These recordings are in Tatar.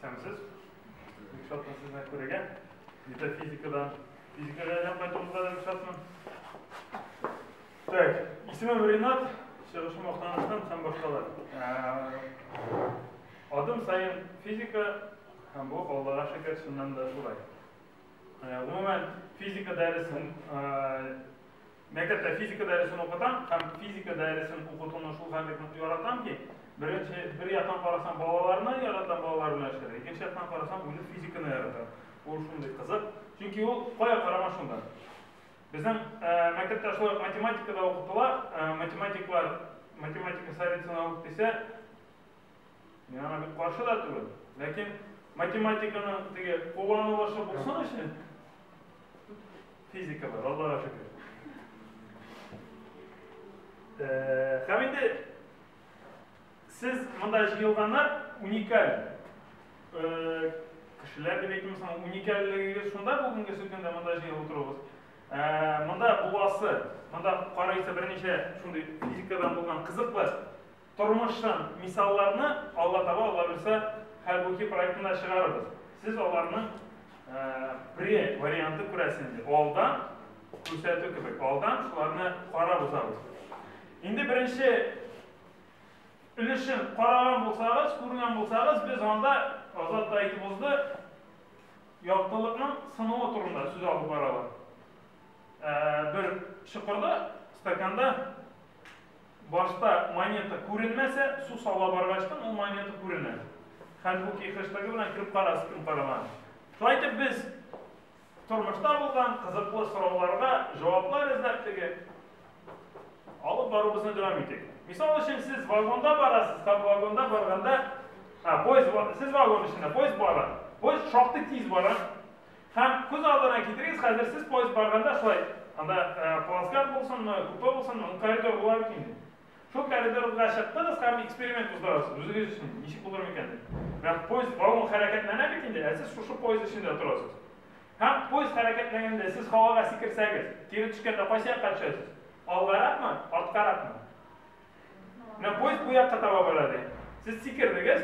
Исәнмесез. Бик шатмын сезне күрергә. Метафизикадан физикага әйләнеп кайтуыгызга да бик шатмын. Так, исемем Ринат, чыгышым Актаныштан һәм башкалар. Адым саен физика һәм бу Аллага шөкер чыннан да шулай. Гомумән, физика дәресен Мәктәптә физика дәресен укытам һәм физика дәресен укытуны шул хәтле нык яратам ки, беренче, бер яктан карасаң, балаларны яратам, балалар белән эшләргә, икенче яктан карасаң, үзем физиканы яратам. Ул шундый кызык, чөнки ул кая карама шунда. Безнең э, мәктәптә шулай ук математикада укытыла, э, математиклар математика советына ук дисә, Мин аңа бик каршы да түгел. Ләкин математиканың теге кулланылышы булсын өчен физика бар, Аллага шөкер. Э, һәм инде сез монда җыелганнар уникаль э, кешеләр дип әйтим соң уникальлегегез шунда бүгенге сөткәндә монда җыелып утыруыгыз э, монда буласы монда карыйсы берничә шундый физикадан булган кызыклы Тормыштан мисалларны Алла таба Алла бирса Хәлбуки проектын да чыгарырбыз. Сез аларның пре варианты күрәсез инде. Алдан күрсәтү кебек. Алдан шуларны карап узабыз. Инде беренче өлешен караган булсагыз, күргән булсагыз, без анда Азат та әйтеп узды, яктылыкның сынуы турында сүз алып баралар. Бер чокырда, стаканда Башта монета күренмәсә, су сала баргачтын ул монета күренә. Хәлбуки хэштегы белән кем карас, кем карамас. Шулай итеп без тормышта булган кызыклы сорауларга җаваплар эзләп теге алып баруыбызны дәвам итик. Мисал өчен сез вагонда барасыз һәм вагонда барганда, а, поезд, сез вагон эчендә, поезд бара. Поезд шактый тиз бара. Һәм күз алдына китерегез, хәзер сез поезд барганда шулай, анда плацкарт булсынмы, купе булсынмы, ул коридор була бит инде. Шул коридорга чыктыгыз һәм эксперимент уздырасыз үзегез өчен, ничек булыр микән дип. Менә поезд, вагон хәрәкәтләнә бит инде, ә сез шушы поезд эчендә торасыз. Һәм поезд хәрәкәтләгәндә сез һавага сикерсәгез, кире төшкәндә кайсы якка төшәсез? Алгаракмы, арткаракмы? Менә поезд бу якка таба бара ди. Сез сикердегез.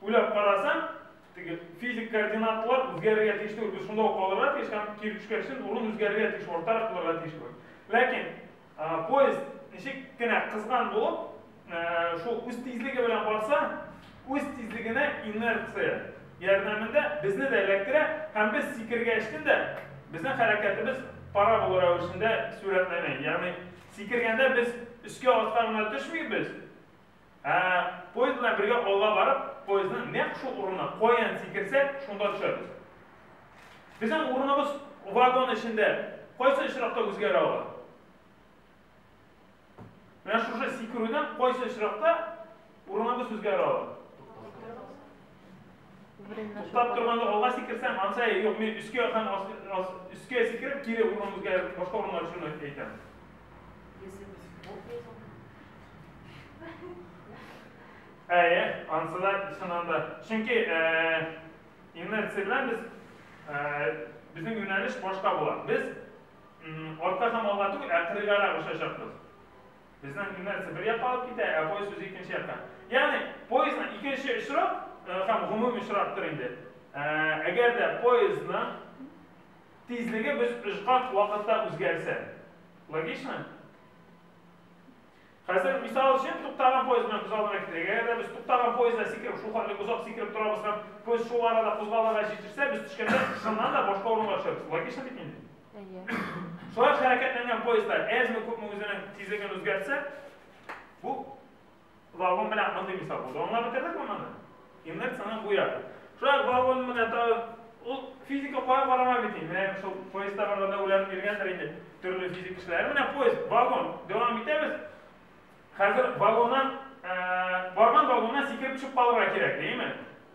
Уйлап карасаң, теге физик координатлар үзгәрергә тиеш түгел, без шунда ук калырга тиеш һәм кире төшкәч өчен урын үзгәрергә тиеш, артарак булырга тиеш кебек. Ләкин поезд ничек кенә кызган булып, шул үз тизлеге белән барса, үз тизлегенә инерция ярдәмендә безне дә эләктерә һәм без сикерергә өчен дә безнең хәрәкәтебез парабола рәвешендә сурәтләнә. Ягъни сикергәндә без өскә-аска гына төшмибез, Ә поезд белән бергә алга барып, поездның нәкъ шул урынына каян сикерсә, шунда төшәбез. Безнең урыныбыз вагон эчендә кайсы очракта үзгәрә ала? Менә шушы сикерүдән кайсы очракта урыныбыз үзгәрә ала? Туктап торганда алга сикерсәң, анса юк, мин өскә һәм өскә сикереп, кире урынымызга башка урынга төшүне әйтәм. Әйе, ансы да чыннан да. Чөнки инерция белән без безнең юнәлеш башка була. Без артка һәм алга түгел, ә кырыйгарак очачакбыз. Безнең инерция бер якка алып китә, ә поезд үзе икенче якка. Ягъни поездның икенче очрак һәм гомуми очрактыр инде. Әгәр дә поездның тизлеге без очкан вакытта үзгәрсә. Логично? Хәзер мисал өчен туктаган поезд белән күз алдына китерик. Әгәр дә без туктаган поездда сикереп, шул хәтле озак сикереп торабыз һәм поезд шул арада кузгалырга җитешсә, без төшкәндә шуннан да башка урынга төшәбез. Логично бит инде? Әйе. Шулай хәрәкәтләнгән поездлар әзме-күпме үзенең тизлеген үзгәртсә, бу вагон белән мондый мисал булды. Аңлап бетердек монаны? Инерцияның бу ягы. Шулай вагон менә тагын ул физика кая карама бит инде. Менә шул поездда барганда уйланып йөргәндер инде төрле физик кешеләр. Менә поезд, вагон дәвам итәбез. Хәзер вагоннан барган вагоннан сикереп төшеп калырга кирәк, димме?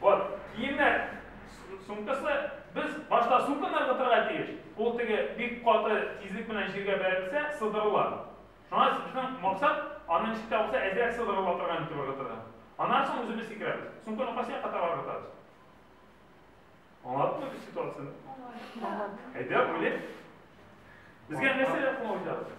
Вот, киемнәр сумкасы, без башта сумканы ыргытырга тиеш. Ул теге бик каты тизлек белән җиргә бәрелсә, сыдырыла. Шуңа безнең максат, аны ничек тә булса әзрәк сыдырыла торган итеп ыргытырга. Аннан соң үзебез сикерәбез. Сумканы кайсы якка таба ыргытабыз? Аңладыңмы без ситуацияне? Аңладык. Әйдә, уйлыйк. Безгә нәрсәләр кулланып җыябыз?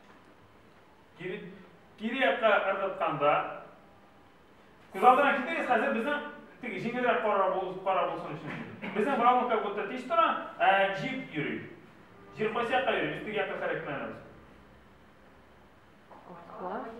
Кире, кире якка ыргытканда, күз алдына китерегез, хәзер безнең теге җиңелрәк кара, бул, кара булсын өчен. Безнең балон как будто тиз тора, ә җип йөри. Җир кайсы якка йөри, без теге якка хәрәкәтләнәбез. Класс.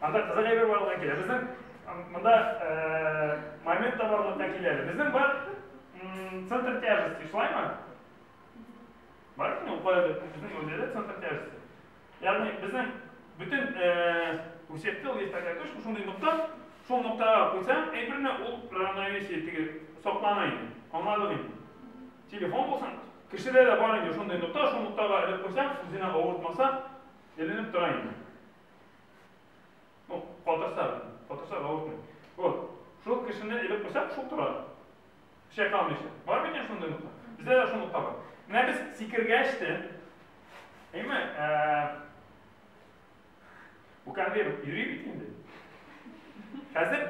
Анда кызык әйбер барлыкка килә. Безнең монда э, момент та барлыкка килә. Безнең бар центр тяжести, шулаймы? Бар микән ул кайда? Безнең үзәдә центр тяжести. Ягъни безнең бөтен э, күрсәтте ул есть такая точка, шундый нокта, шул ноктага куйсаң, әйберне ул равновесие теге саклана инде. Аңладык инде. Телефон булсын, кешедә дә бар инде шундый нокта, шул ноктага элеп куйсаң, үзенә авыртмаса, Эленеп тора инде. Ну, катырса, катырса авыртмый. Вот. Шул кешене элеп куйсак, шул тора. Чайкалмыйча. Бар микән шундый нокта? Бездә дә шул нокта бар. Менә без сикергәч тә, әйме, бу конвейер йөри бит инде. Хәзер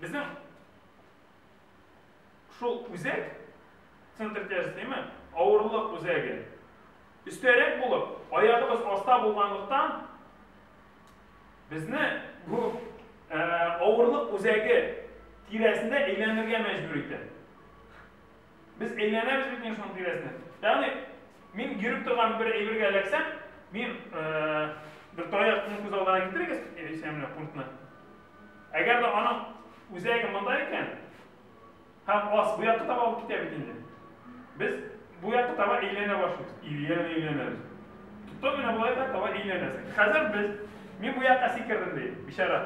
безнең Шул үзәк, центр тяжестеме, авырлык үзәге өстәрәк булып, аягыбыз аста булганлыктан, безне бу авырлык үзәге тирәсендә әйләнергә мәҗбүр итә. Без әйләнәбез бит инде шуның тирәсендә. Ягъни, мин йөреп торган бер әйбергә эләксәм, мин бер таякны күз алдына китерегез, исәнлек пунктны. Әгәр дә аның үзәге монда икән, һәм ас бу якка таба алып китә бит инде. Без бу якка таба әйләнә башлыйбыз. Әйләнә, әйләнәбез. Туктау гына болай да таба әйләнәсең. Хәзер без, мин бу якка сикердем ди, бичара.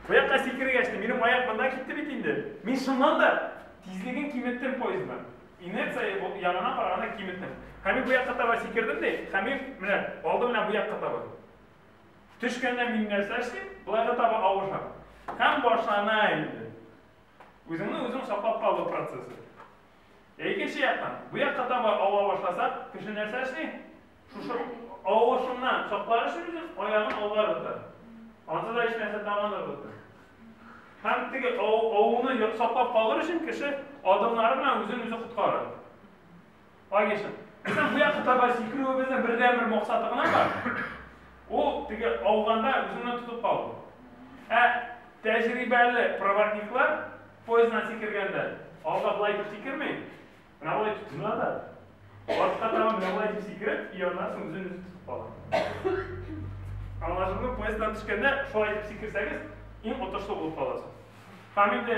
Бу якка сикергәч тә, минем аяк монда китте бит инде. Мин шуннан да тизлеген киметтем поездның. Инерция ягына караганда киметтем. Һәм мин бу якка таба сикердем ди, һәм мин, менә, алдым менә бу якка таба. Төшкәндә мин нәрсә эшлим? Болай да таба авышам. Һәм башлана инде. Үзеңне үзең саклап калу процессы. Ә икенче яктан, бу якка таба ава башласак, кеше нәрсә эшли? Шушы авышыннан саклар өчен үзен аягын алга ыргыта. Анда да һичнәрсә тагын ыргыта. Һәм теге авыны саклап калыр өчен кеше адымнары белән үзен үзе коткара. Агишев. Безнең бу якка таба сикерүебезнең бердәнбер максаты гына бар. Ул теге ауганда үзеңне тотып калу. Ә тәҗрибәле проводниклар поезддан сикергәндә, алга болай итеп сикерми, менә болай итеп тотына да, артка таба менә болай итеп сикереп, и аннан соң үзен үзе тотып кала. Аңлашылды, поезддан төшкәндә шулай итеп сикерсәгез, иң отышлы булып каласыз. Һәм инде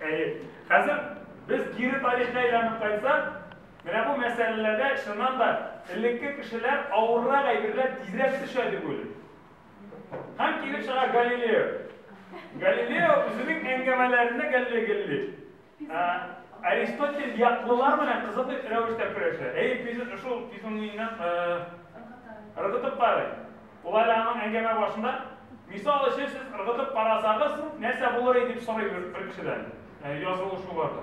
Әйе. Хәзер без кире тарихка әйләнеп кайтсак, менә бу мәсьәләләрдә чыннан да элекке кешеләр авыррак әйберләр тизрәк төшә дип уйлыйм. Һәм килеп чыга Галилео. Галилео үзенең әңгәмәләрендә гәлле-гелли. Ә, Аристотель яклылар белән кызыклы рәвештә көрәшә. Әйе, шул физиономиясен ыргытып карый. Болай да аның әңгәмә башында, Мисал өчен, сез ыргытып карасагыз, нәрсә булыр иде, дип сорый бер кешедән. Ә, язылу шул барда.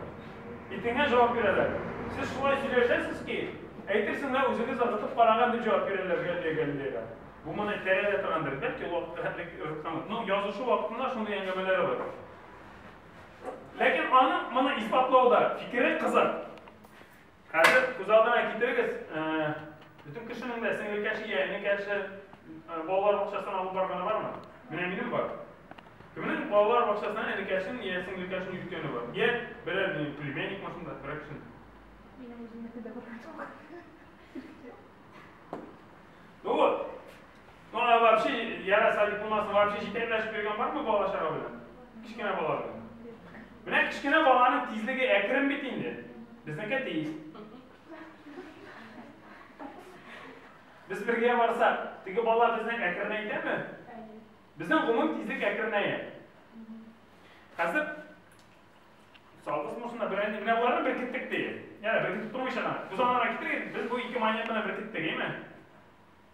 Итеңә җавап бирәләр. Сез шулай сөйләшәсез ки, әйтерсең лә үзегез ыргытып караган дип җавап бирәләр Галилейга. Бу моны тәрәдә торгандыр, бәлки ул вакытта хәтлек ыргытканлык. Но язышу вакытында шундый әңгәмәләре бар. Ләкин аның моны исбатлауда фикере кызык. Хәзер күз алдына китерегез, бөтен кешенең дә сеңлек яше, я энек яше балалар бакчасына алып барганы бармы? Менә минем бар. Кемнең балалар бакчасына энек яшен, я сеңлек яшен йөрткәне бар? Я берәр минем племянник машинда, берәр кешен. Минем үземнеке дә бар. Ну вот, Ну, а вообще, яра садик булмаса, вообще җитәкләшеп йөргән бармы бала чара белән? Кечкенә бала белән. Менә кечкенә баланың тизлеге әкрен бит инде. Безнеке тиз. Без бергә барсак, теге бала безне әкренәйтәме? Безнең гомум тизлек әкренәя. Хәзер Савыз мусына белән менә боларны беркеттек ди. Яра, беркетеп тормыйча гына. Бозанларга китерик, без бу ике монетаны беркеттек, әйме?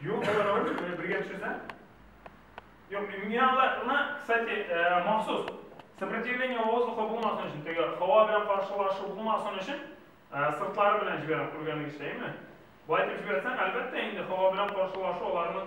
Юк, алар ауыр, бергә төшесә. Юк, мин аларны, кстати, махсус сопротивление воздуха булмасын өчен, теге һава белән каршылашу булмасын өчен, сыртлары белән җибәрәм, күргәнегезчә, әйме? Болай итеп җибәрсәң, әлбәттә, инде һава белән каршылашу аларның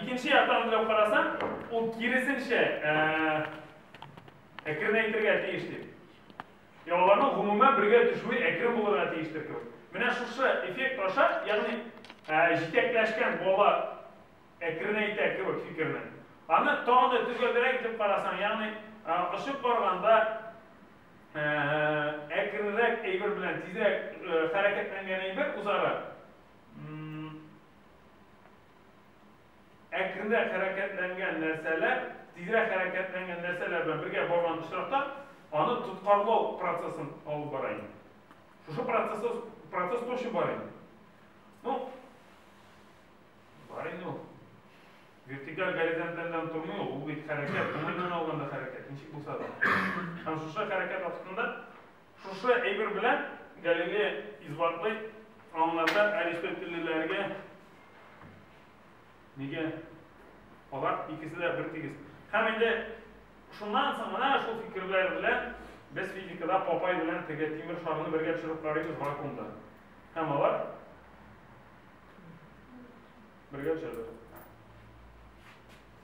Икенче яктан уйлап карасаң, ул киресенчә әкренәйтергә тиеш дип. Я аларның гомумән бергә төшүе әкрен булырга тиештер кебек. Менә шушы эффект аша, ягъни җитәкләшкән бала әкренәйтә кебек фикерне. Аны тагын да төгәлрәк итеп карасаң, ягъни очып барганда әкренрәк әйбер белән тизрәк хәрәкәтләнгән әйбер үзара әкренрәк хәрәкәтләнгән нәрсәләр, тизрәк хәрәкәтләнгән нәрсәләр белән бергә барган очракта, аны тоткарлау процессын алып бара инде. Шушы процесс процесс точно бар инде. Ну, бар инде ул. Вертикаль горизонтальдан тормый ул, ул бит хәрәкәт, уңайдан алганда хәрәкәт, ничек булса да. Һәм шушы хәрәкәт вакытында Шушы әйбер белән Галилея исбатлый, аңарда аристотельлеләргә нигә алар икесе дә бер тигез. Һәм инде шуннан соң гына шул фикерләр белән без физикада Папай белән теге тимер шарны бергә төшереп карыйбыз вакуумда. Һәм алар бергә төшәләр.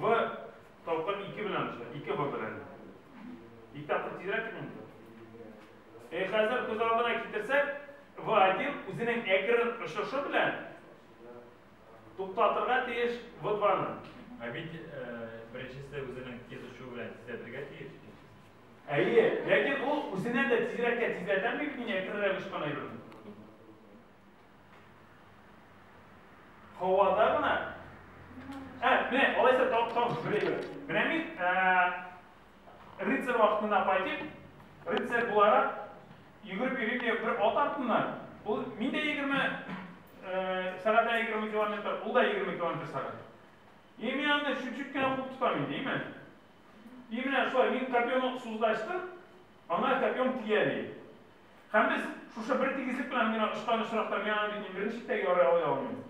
В тапкыр ике белән төшә, ике В белән. Ике тапкыр тизрәк кит монда. Э, хәзер күз алдына китерсәк, В1 үзенең әкрен очышы белән туктатырга тиеш В2-ны. Ә бит э, беренчесе үзенең тиз очуы белән тизләтергә тиеш. Әйе, ләкин ул үзеннән дә тизрәккә тизләтәме бит мин әкренрәк очкан әйберне? Һавада гына. Ә, менә, алайса тап тап беләбез. Менә мин рыцарь вакытында пайтып, рыцарь буларак йөгереп йөрим дә бер ат артыннан. Ул мин дә 20 сәгатә 20 километр, ул да 20 километр сәгат. И мин аны чуть-чуть кенә куып тотам инде, именно. И менә шулай мин копьемны суздаштым, аңа копьем тияли. Һәм без шушы бер тигезлек белән генә очкан очракта мин аны бит мин бер ничек тә ярый ала алмыйм.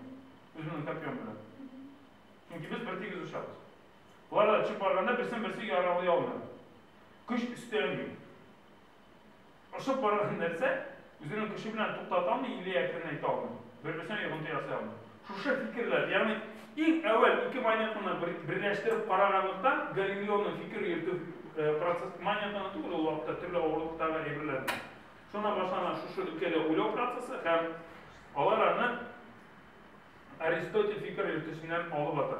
Үземнең копьем белән. Чөнки без бер тигез очабыз. Болар да очып барганда берсен берсе яралый алмый. Көч өстәлми. Очып барган нәрсә үзенең көче белән туктата алмый или әкренәйтә алмый. Бер-берсенә йогынты ясый алмый. Шушы фикерләр, ягъни иң әүвәл ике монетаны берләштереп караганлыктан, Галилеоның фикер йөртү процессы монетаны түгел, ул вакытта төрле авырлыктагы әйберләрне. Шуннан башлана шушы өлкәдә уйлау процессы һәм алар аны Аристотель фикер йөртүченнән алып ата.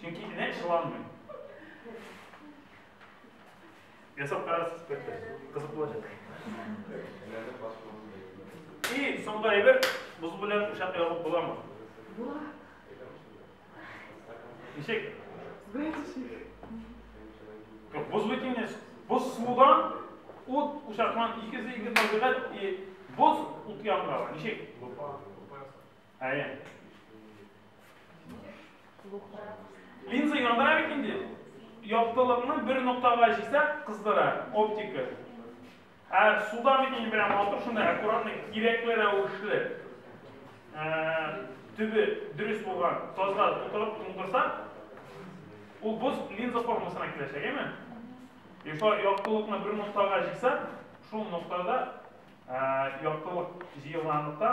Чөнки энә чыланмый. Ясап карарсыз бәлки. Кызык булачак. И, соңгы әйбер, боз белән учак ягып буламы? Була. Ничек? Боз бит инде. Боз судан, ут учактан икесе ике табигать и боз ут янында. Ничек? Әйе. Линза яндыра бит инде. Яктылыкны бер ноктага җисәк, кыздыра, оптика. Ә суда бит инде белән матур шунда аккуратно, кирәкле рәвешле төбе дөрес булган тазга тутырып туңдырса, ул боз линза формасына киләчәк, әйме? И шо яктылыкны бер ноктага җисәк, шул ноктада яктылык җыелганлыкта